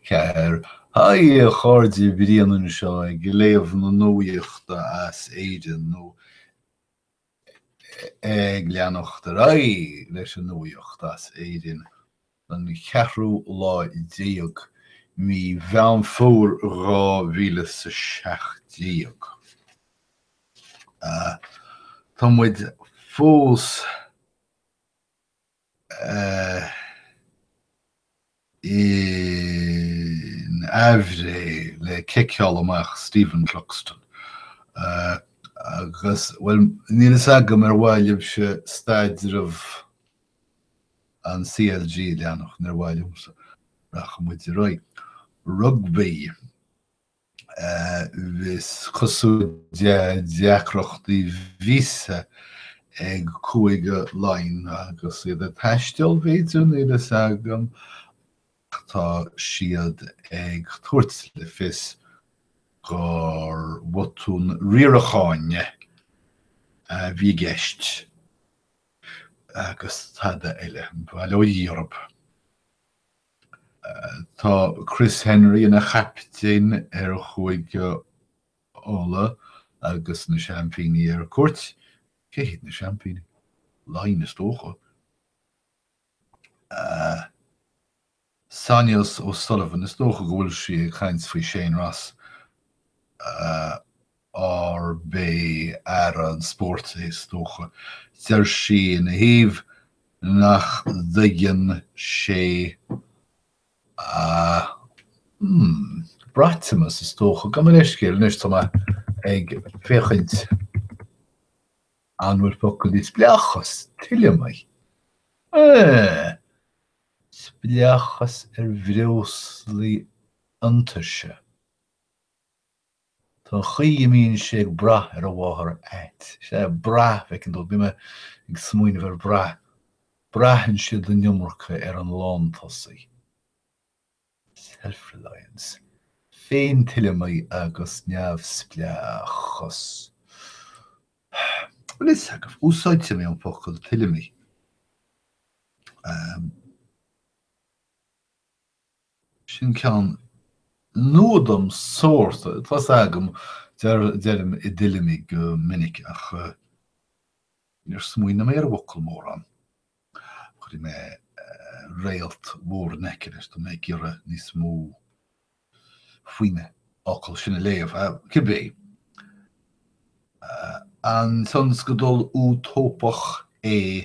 4. Haigh a chairde, Brian anseo ag léamh na nuachta as Éirinn nó ag leanacht ar aghaidh leis an nuacht as Éirinn don cheathrú lá déag mí Mheán Fómhair 2017. Tá muid fós. in aimhréidh le ciceáil amach Stephen Cluxton agus, bhuel, níl a fhios agam ar mhaith libhse staidreamh an CLG a leanacht. Níor mhaith libhse. Rachaidh muid ar aghaidh. Rugbaí. Is cosúil eh deacrachtaí víosa ag Cúige Laighean agus iad ag taisteal, b'fhéidir, níl fhios agam, ach tá siad ag tabhairt le fios gur bhotún riaracháin a bhí i gceist agus tada eile. Bail ó Dhia orthu. Tá Chris Henry ina chaptaen ar Chúige Uladh agus na seaimpíní ar cuairt. Cé hiad na seaimpíní? Laighin is dócha. Sonia O'Sullivan, is dócha go bhfuil sí ag caint faoi Shane Ross. arb é Aire an Spóirt é is dócha, deir sí ina thaobh nach dtuigeann sé a Braitimas is dócha, gabh mo leithscéal anois tá mé ag féachaint an bhfuil focal di, spleáchas, tuilleamaí, eh, spleáchas ar bhreoslaí iontaise. Tá an chaoi a mbíonn sé ag brath ar a mháthair ait. Sea, brath, bhfeiceann tú, bhí mé ag smaoineamh ar bhrath. Braitheann siad an iomarca ar an lántosaí. Self-reliance. Féintuilleamaí agus neamhspleáchas. Bhuel, níl fhios agam, úsáidfidh mé an focal tuilleamaí. Sin ceann nua dom sórt. Tá 's agam, deirim i dtuilleamaí go minic, ach níor smaoinigh mé ar an bhfocal mórán. Cuirfidh mé réalt mhór in aice leis tá mé ag iarraidh níos mó faoin fhocal sin a léamh. Cibé, an tionscadal útóipeach é?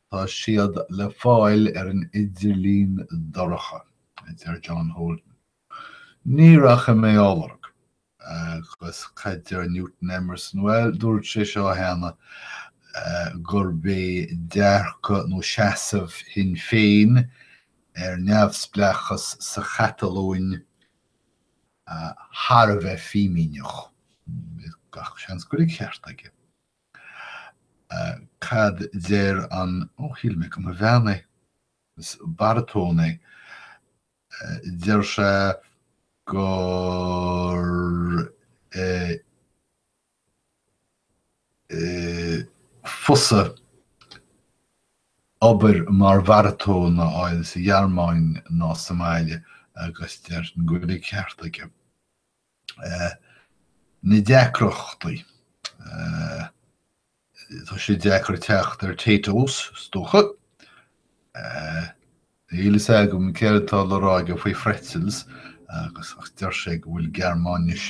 Tá siad le fáil ar an idirlíon dorcha, a deir John Holden. Ní rachaidh mé á lorg. Agus cad deir Newton Emerson? Bhuel, dúirt sé seo cheana, gurb é dearcadh nó seasamh Shinn Féin ar neamhspleáchas sa Chatalóin thar a bheith fimíneach. Gach seans go raibh an ceart aige. Cad deir an, ó shíl mé go mba bhean é, is baratón é, deir sé gur fusa obair mar bharatón a fháil sa Ghearmáin ná sa mbaile agus déarfainn go bhfuil an ceart aige. Na deacrachtaí. Tá sé deacair teacht ar Taytos, is dócha. Níl a fhios agam céard atá le rá aige faoi phretzels, agus ach deir sé go bhfuil Gearmáinis.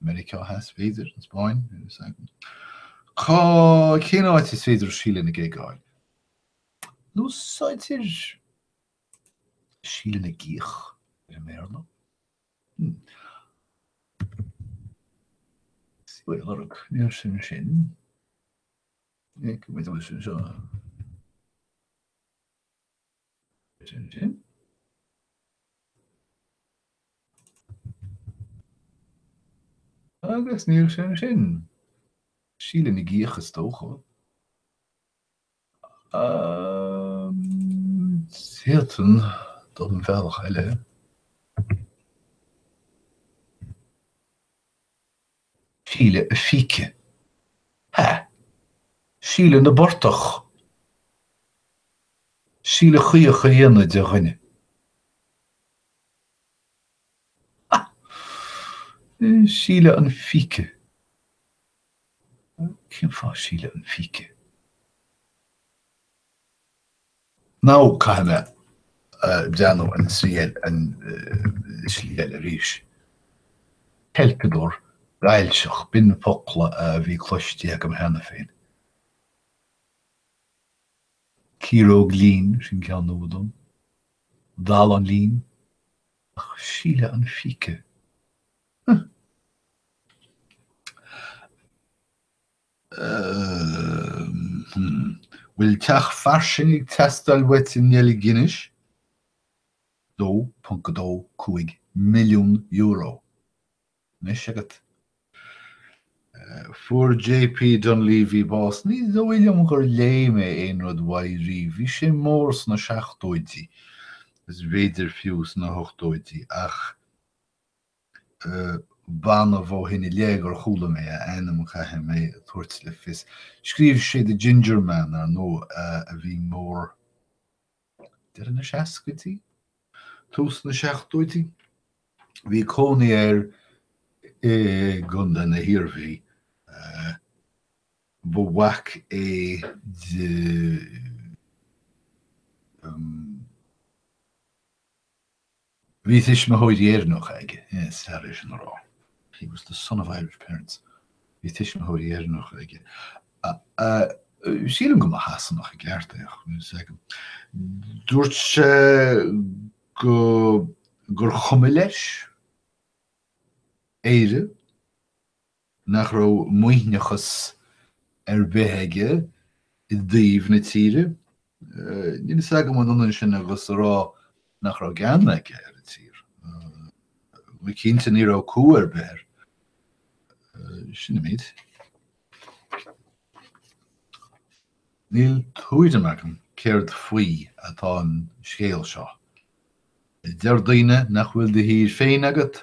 Meiriceá Theas, b'fhéidir, an Spáinn, is ea. Cá cén áit is féidir Síle na gig a fháil? Nó úsáidtear Síle na gCíoch ar an mBéarla? Sea, an lorg, níl sé ansin. Ag, maidir leis seo. Agus níl sé ansin. Síle na gCíoch is dócha. Sétan don bhealach eile. Síle an phíce. Hea. Síle na bportach. Síle chaoch a dhéanamh de dhuine. Ha! Síle an phíce. Cén fáth Síle an phíce? Nó caithfidh mé déanamh an slí eile, an slí eile arís. Ceilpeadóir gailseach, b'in focla a bhí cloistí agam cheana féin. Ciaróg lín, sin ceann nua dom. Dallán lín? Ach síle an phíce? Huh! Hm. Bhfuil teach fairsing ag teastáil uait i nDeilginis? €2.25 milliún. Anois agat. Fuair JP Donleavy bás. Ní dóigh liom gur léigh mé aon rud uaidh riamh. Bhí sé mór sna seachtóidí, is b'fhéidir fiú sna hochtóidí, ach. B'annamh ó shin i léith gur chuala mé a ainm, caithfidh mé a thabhairt le fios. Scríobh sé The Ginger Man, ar ndóigh, a bhí mór deireadh na seascaidí, tús na seachtóidí. Bhí cónaí air i gContae na hIarmhí. Ba mhac é de Bhí tuismitheoirí Éireannacha aige, is fearr é sin a rá. He was the son of Irish parents, Bhí tuismitheoirí Éireannacha aige. Sílim go mba Shasanach i gceart é. Dúirt sé gur chuma leis Éire. nach raibh maoithneachas ar bith aige i dtaobh na tíre. Níl a fhios agam an ionann sin agus a rá nach raibh gean aige ar an tír. Go cinnte ní raibh cumha ar bith air. Sin an méid. Níl tuairim agam céard faoi atá an scéal seo. Deir daoine nach bhfuil do thír féin agat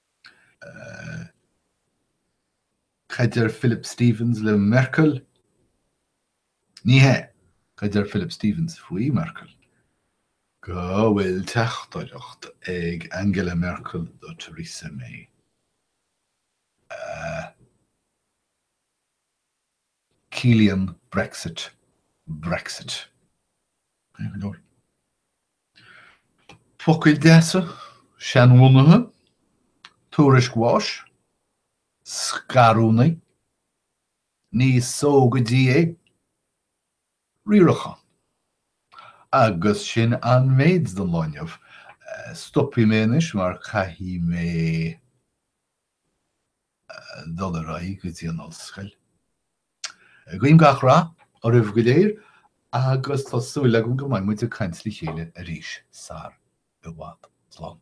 Cad deir Philip Stephens le Merkel? Ní hea, cad deir Philip Stephens faoi Merkel? Go bhfuil teachtaireacht ag Angela Merkel do Theresa May. Ciallaíonn Brexit Brexit. Focail deasa, seanbhunaithe, tuairisc bháis, scarúnaí, ní só go dtí é, riarachán. Agus sin an méid don lá inniu. Stopfaidh mé anois mar caithfidh mé. dul ar aghaidh go dtí an ollscoil. Guím gach rath oraibh go léir agus tá súil agam go mbeidh muid ag caint le chéile arís sar i bhfad. Slán.